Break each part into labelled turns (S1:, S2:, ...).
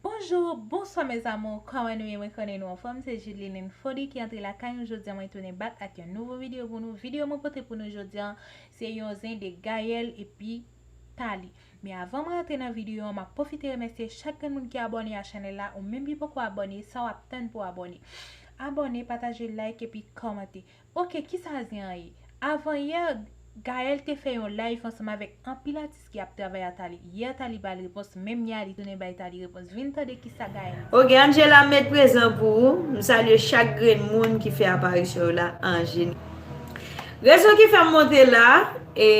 S1: Bonjour bonswa mes amours kòman nou ye mwen konnen nou anfòm se Judeline Fody ki antre lakay nou jodi mwen tounen bak ak yon nouvo video pou nou video mwen pote pou nou jodi se yon zen de Gaël epi Thalie men avan mwen antre nan video an map pwofite remèsye chak grenn moun ki abòne a chanèl la ou menm ki poko abòne sa wap tann pou abòne abòne pataje like epi kòmante Ok kisa zen an ye? Avan yè Gaëlle te fè yon live ansanm avèk anpil atis ki ap travay a Thalie. Yè Thalie bal repons, menm yè a li tounen bay Thalie repons. Vin tande kisa Gaëlle di. Ok Angela m met
S2: prezan pou ou. M salye chak grenn moun ki fè aparisyon yo la Angela. Rezon ki fè m monte la e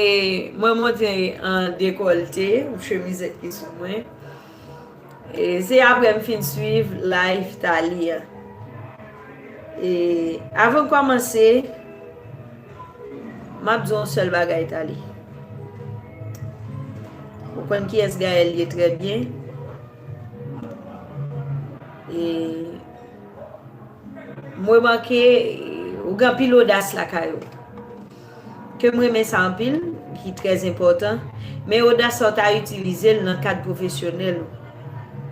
S2: mwen monte an dekòlte, ou chemizèt ki sou mwen. Se aprè m fin swiv live Thalie a. E avan m kòmanse, m ap di w yon sèl bagay Thalie. Ou konn kiyès Gaëlle ye trè byen. E m remake ou gen anpil odas lakay ou. Ke m renmen sa anpil, ki trè enpòtan, men odas sa w ta itilize l nan kad pwofesyonèl ou,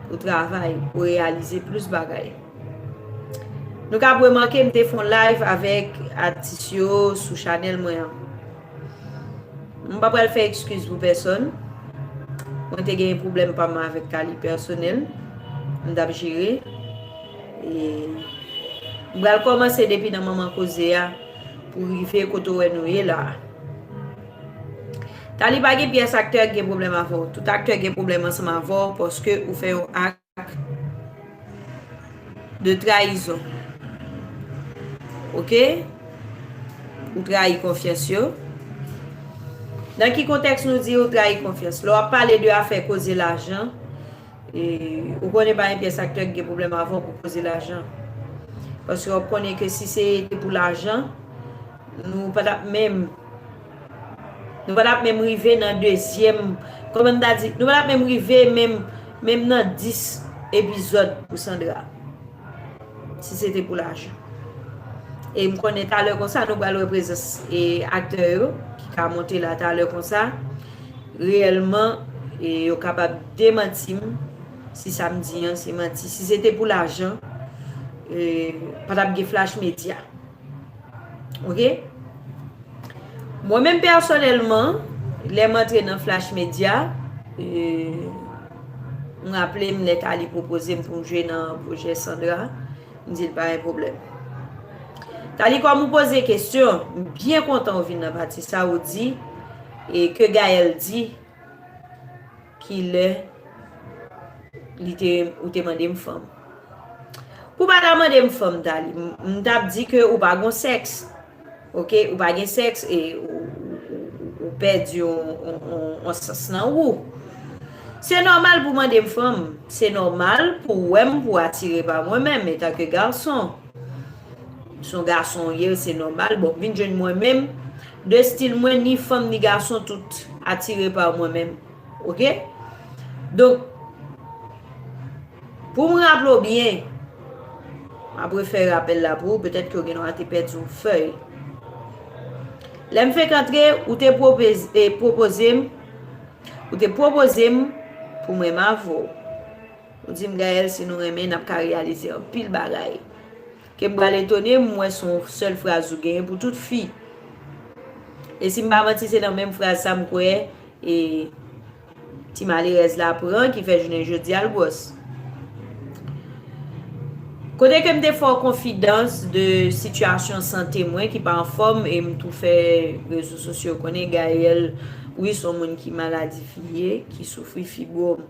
S2: pou travay, pou reyalize plis bagay. Nou kab remake m te fè yon live avèk atis yo sou chanèl mwen an. M pa pral fè ekskiz pou pèsòn, mwen te genyen pwoblèm pa m avèk Thalie pèsonèl, m t ap jere. M pral kòmanse depi nan manman koze a. pou rive kote ou wè nou ye la a. Taly pa gen pyès aktè ki gen pwoblèm avè w. Tout aktè gen pwoblèm ansanm avè w paske ou fè yon ak de trayizon. Ok? Ou trayi konfyans yo. Nan ki kontèks nou di ou trayi konfyans? Lè w ap pale de afè koze lajan, Ou konnen pa gen pyès aktè ki gen pwoblèm avè w pou koze lajan. Paske wap konnen ke si se te pou lajan, nou pa tap menm, nou pa tap menm rive nan dezyèm, kòman m ta di, nou pa tap menm rive menm, menm nan 10 epizòd pou Sandra. Si se te pou lajan. E m konnen talè konsa nou pral wè prezans e aktè yo ki ka monte la talè konsa, reyèlman e yo kapab. Demanti m si sa m di an se manti. Si se te pou lajan, pa t ap gen Flash Media. Ok? Mwen menm pèsonèlman, lè m antre nan Flash Media, m raple m lè Thalie pwopoze m pou m jwe nan pwojè Sandra, m di l pa gen pwoblèm. Thalie, kòm ou poze kesyon, m byen kontan ou vin nan pati sa a, ou di, e ke Gaëlle di, Kilè li te ou te mande m fanm? Pou pa ta mande m fanm Dali, m t ap di ke ou pa gon sèks. Ok, ou pa gen sèks e ou pèdi yon sans nan ou. Se nòmal pou mande m fanm, se nòmal pou wè m pou atire pa mwen menm etan ke gason. Son gason ou ye, se nòmal, bon vin jwenn mwen menm, 2 stil mwen ni fanm ni gason tout atire par mwen menm ok donk poum raple w byen map refè rapèl la pou ou petèt ke w gen dwa te pèdi yon fèy lèm fenk antre ou te pwopoze m ou te pwopoze m pou mwen mavo ou di m Gaëlle si nou renmen nap ka reyalize anpil bagay. Ke m pral etone m wè son sèl fraz ou genyen pou tout fi. E si m pa manti se nan menm fraz sa m kwè e ti malerèz la pran ki fè jounen jodi a l gwòs. Kote ke m te fè w konfidans de sitiyasyon sante mwen ki pa anfòm e m tou fè rezo sosyo konnen Gaelle wi son moun ki maladi fi ye ki soufri fibwòm.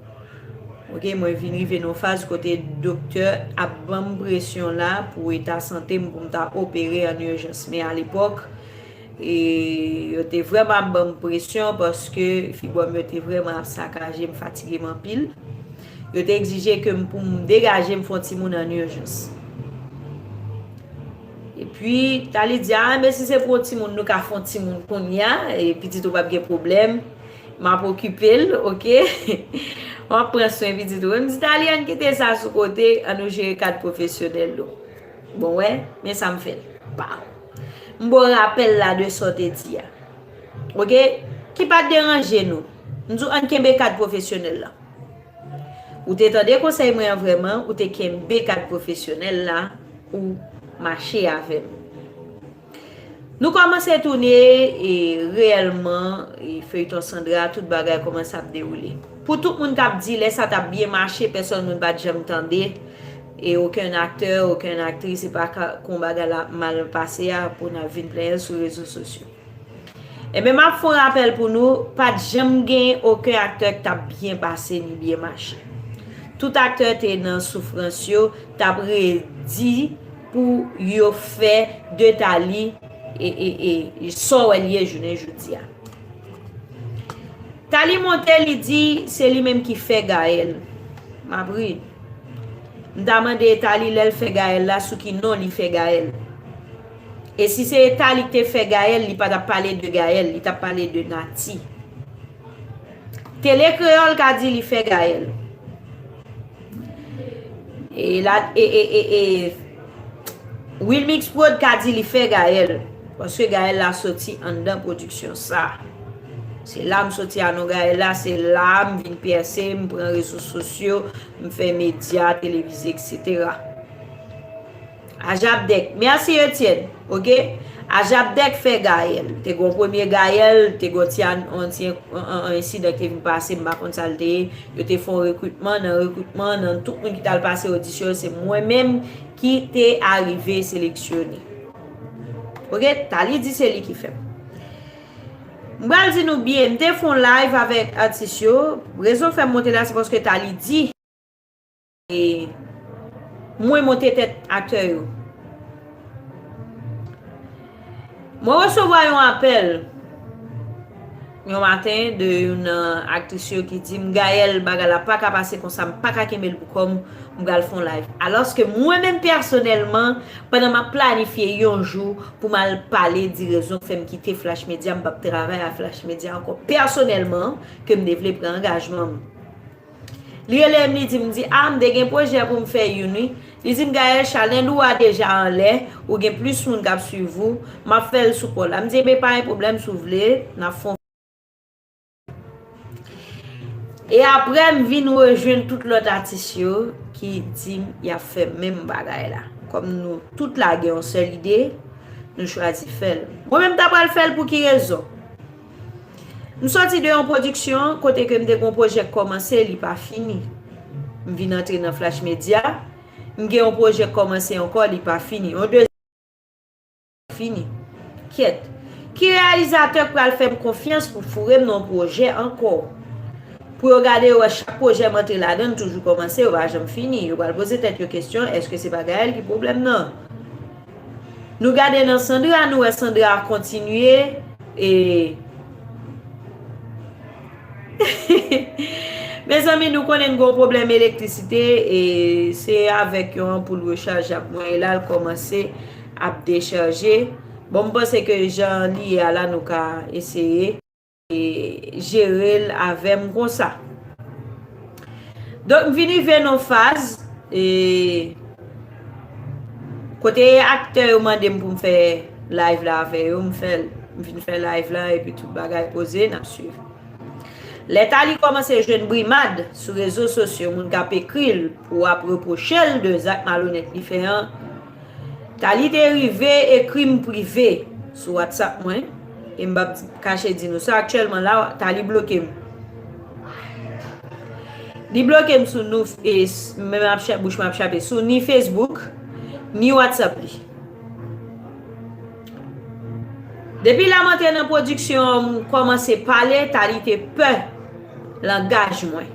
S2: Ok mwen vin rive nan yon faz kote doktè ap banm presyon la pou eta sante m pou m ta opere an urgence men a lepòk yo te vrèman ap banm presyon paske fibwòm yo te vrèman ap sakaje m fatige m anpil yo te egzije ke m pou m degaje m fon timoun an urgence epi Thalie di a men si se pou yon timoun nou ka fon timoun kounya pitit ou pap gen pwoblèm. Map okipe l ok. Map pran swen pitit ou. Mdi Talianne kite sa sou kote an nou jere kad pwofesyonèl nou. Bon wè men sa m fè l. Paw. M baw rapèl la de sa w te di a. Ok. Ki pat deranje nou. M di w ann kenbe kad pwofesyonèl lan. Ou te tande konsèy mwen an vrèman ou te kenbe kad pwofesyonèl la ou mache avè m. Nou kòmanse toune e reyèlman e feyton Sandra tout bagay kòmanse ap dewoule pou tout moun tap di lè sa tap byen mache pèsòn moun pat janm tande e okenn aktè okenn aktris epa kon bagay la ap mal pase a pou nap vin plenyen l sou rezo sosyo enben map fon rapèl pou nou pat janm gen oken aktè k tap byen pase ni byen mache tout aktè te nan soufrans yo tap redi pou yo fè de Thalie sa w wè li ye jounen jodi a Thalie monte li di se li menm ki fè Gaël map ri m ta mande Thalie lè l fè Gaël la sou ki non li fè Gaël e si se Thalie ki te fè Gaël li pa tap pale de Gaël li tap pale de Naty Tele Creole ka di li fè Gaël. E la e e e e Wilmix Prod ka di li fè Gaël paske Gaël la soti anndan pwodiksyon sa. Se la m soti a non Gaël la, se la m vin pèse, m pran rezo sosyo, m fè medya, televize etc. Ajapdèk Merci Etienne ok Ajapdèk fè Gaël te gon premye Gaël te gon ti yon ensidan ki te vin pase m pa konn sa l te ye yo te fè yon rekritman nan rekritman an nan tout moun ki t al pase odisyon yo se mwen menm ki te arive seleksyone ok Thalie di se li ki fè m m pral di nou byen m te fè yon live avèk atis yo rezon fè m monte la se paske Thalie di. E mwen monte tèt aktè yo. Mwen resevwa yon apèl yon maten de yon nan aktris yo ki di m Gaëlle bagay la pa ka pase konsa m pa ka kenbe l pou kò m, m pral fè yon live. Alòske mwen menm pèsonèlman pandan m ap planifye yon jou pou m al pale di rezon k fè m kite Flash Media m p ap travay ak Flash Media ankò pèsonèlman ke m te vle pran angajman m. Li rele m li di m di a m de gen pwojè pou m fè youn wi. Li di m Gaëlle chanèl ou a deja anlè, ou gen plis moun k ap swiv ou, m ap fè l sou kò la. M di enben pa gen pwoblèm si w vle n ap fon. E aprè m vin rejwenn tout lòt atis yo ki di m y ap fè menm bagay la. Kòm nou tout la gen yon sèl ide, nou chwazi fè l. Mwen menm m ta pral fè l pou ki rezon? M sòti de yon pwodiksyon kote ke m te gen yon pwojè k kòmanse, li pa fini. M vin antre nan Flash Media, m gen yon pwojè k kòmanse ankò, li pa fini. Yon dezyèm pwojè fini. Kyèt. Ki reyalizatè k pral fè m konfyans pou foure m nan yon pwojè ankò? Pou yo gade yo wè chak pwojè m antre ladan l toujou kòmanse, yo pa janm fini. Yo pral poze tèt yo kesyon, èske se pa Gaëlle ki pwoblèm nan? Nou gade nan Sandra nou wè Sandra kontinye e Mezanmi nou konnen n gon pwoblèm elektrisite e se avèk yon anpoul rechaje ap mwen la l kòmanse ap dechaje bon m panse ke jan li ye a la nou ka eseye. jerel avem konsa. Donk vin rive non faz e kote aktè yo mandem pou m fè live la avè yo, m fèl, m vin fè live la epi tout bagay poze nap swiv. Lè Thalie kòmanse jwenn brimad sou rezo sosyo moun kap ekril pou ap repwochel de zak malonèt li fè an, Talie te rive ekri m prive sou WhatsApp mwen e m pap kache di nou sa aktyèlman la Talie bloke m. Li bloke m sou nou e men ap chè bouch mwen ap chape sou ni Facebook ni WhatsApp li. Depi lè m antre nan pwodiksyon an m kòmanse pale Talie te pè langaj mwen.